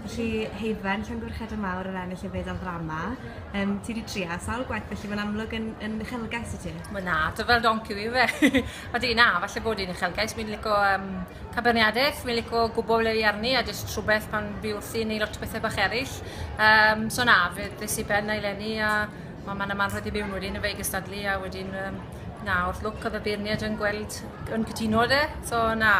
Felly, Heidwen, Llongyfarchiadau mawr ar ennill y fedal ddrama. Um, ti wedi tria sawl gwaith, felly mae'n amlwg yn, yn uchelgais i ti. Mae na, dy fel donci fi fe. a di na, falle bod i'n uchelgais. Mi'n lico um, caberniadaeth, mi'n lico gwybod ble i arni a jyst rhywbeth pan fi wrthi neu lot o bethau bach eraill. Um, so na, fe ddys i ben na i lenni a mae ma'n yma rhaid i mewn wedyn y fe gystadlu a wedyn um, Na, wrth lwc oedd y beirniaid yn gweld, yn cytuno de, so na,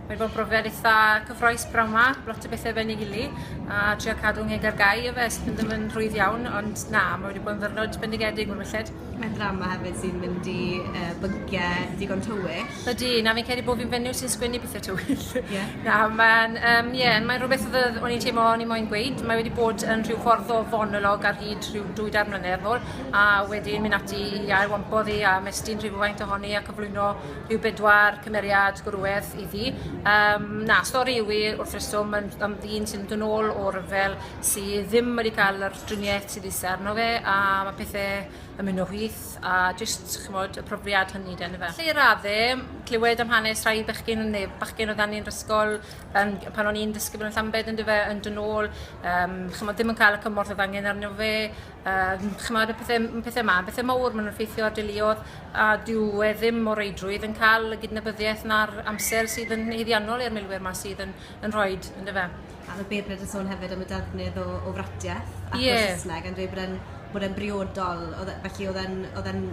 mae bod yn brofiad eitha cyffroes brawn ma, lot o bethau ben ei gili, a trio cadw ngeg ar gau o fe, sydd ddim yn rhwydd iawn, ond na, mae wedi bod yn ddyrnod bendigedig o'r melled. Mae'n drama hefyd sy'n mynd i uh, bygiau digon tywyll. Ydy, na fi'n credu bod fi'n fenyw sy'n sgwennu pethau tywyll. Yeah. na, mae'n um, yeah, mae rhywbeth oedd o'n i'n teimlo o'n i'n moyn gweud. Mae wedi bod yn rhyw ffordd o fonolog ar hyd rhyw dwy dar mlynedd ôl, a wedyn mynd ati i ail wampo ddi a mestyn rhywfaint ohoni a cyflwyno rhyw bedwar cymeriad gwrwedd iddi. Um, na, stori yw i wrth reswm yn, am ddyn sy'n dod ôl o ryfel sydd ddim wedi cael yr driniaeth sydd eisiau arno fe a mae pethau yn mynd o hwyth a jyst chymod, y profiad hynny den fe. Lle i raddau, clywed am hanes rhai bechgyn neu bachgen o dan ni'n rysgol yn, pan o'n i'n dysgu fel yn Llambed yn dyfe yn dod ôl, um, chymod, ddim yn cael y cymorth oedd angen arno fe, Yym, ch'mod, y pethe, m- pethe 'ma, pethe mowr ma'n effeithio ar deuluodd, a dyw e ddim o reidrwydd yn cael y gydnabyddiaeth na'r amser sydd yn haeddiannol i'r milwyr 'ma sydd yn yn rhoid, yndyfe? A o'dd Beirniad yn sôn hefyd am y defnydd o o fratiaith ac Ie. o Sysneg yn dweud bod e'n bod e'n briodol o'dd e felly o'dd e'n o'dd e'n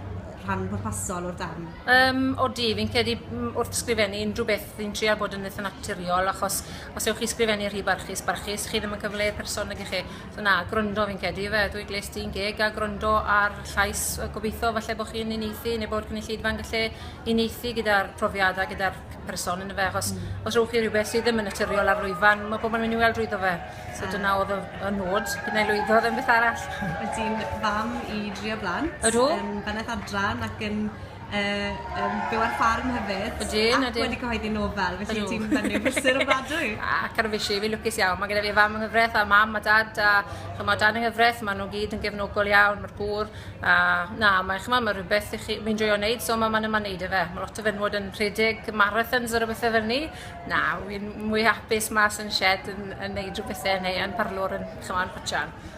rhan pwrpasol o'r darn. Yym, odi, fi'n credu m- wrth sgrifennu unrhyw beth fi'n trial bod yn itha naturiol achos os ewch chi sgrifennu rhy barchus barchus chi ddim yn cyfleu y person nage chi? So na, gwrando fi'n cedi fe. Dwi gles di'n geg a gwrando ar llais. Gobeithio falle bod chi'n uneithi neu bod gynulleidfa yn gallu uneithi gyda'r profiadau, gyda'r person yn y fe. Achos mm. os rhywch chi rhywbeth sydd ddim yn naturiol ar lwyfan, mae pobl yn mynd i weld rwyddo fe. So ah. dyna oedd y, y nod, gyda'i lwyddo ddim beth arall. Ydy'n fam i drio blant. Ydw. Yn bennaeth adran ac yn yy yn byw ar ffarm hefyd. Ydyn ydyn. Ac wedi cyhoeddi nofel felly ti'n fyny brysur ofnadwy. Ac ar y fishi, fi'n lwcus iawn. Mae gyda fi fam yng nghyfraith a mam a dad a chymod dan yng nghyfraith, maen nhw gyd yn gefnogol iawn, mae'r gŵr. A na, mae chymod, mae rhywbeth i chi, fi'n joio wneud, so mae ma'n yma'n neud e fe. Mae lot o fenwod yn rhedeg marathons ar y bethau fel ni. Na, fi'n mwy hapus mas yn shed yn, yn neud rhywbeth e neu yn parlwr yn, chymod, yn pwtio.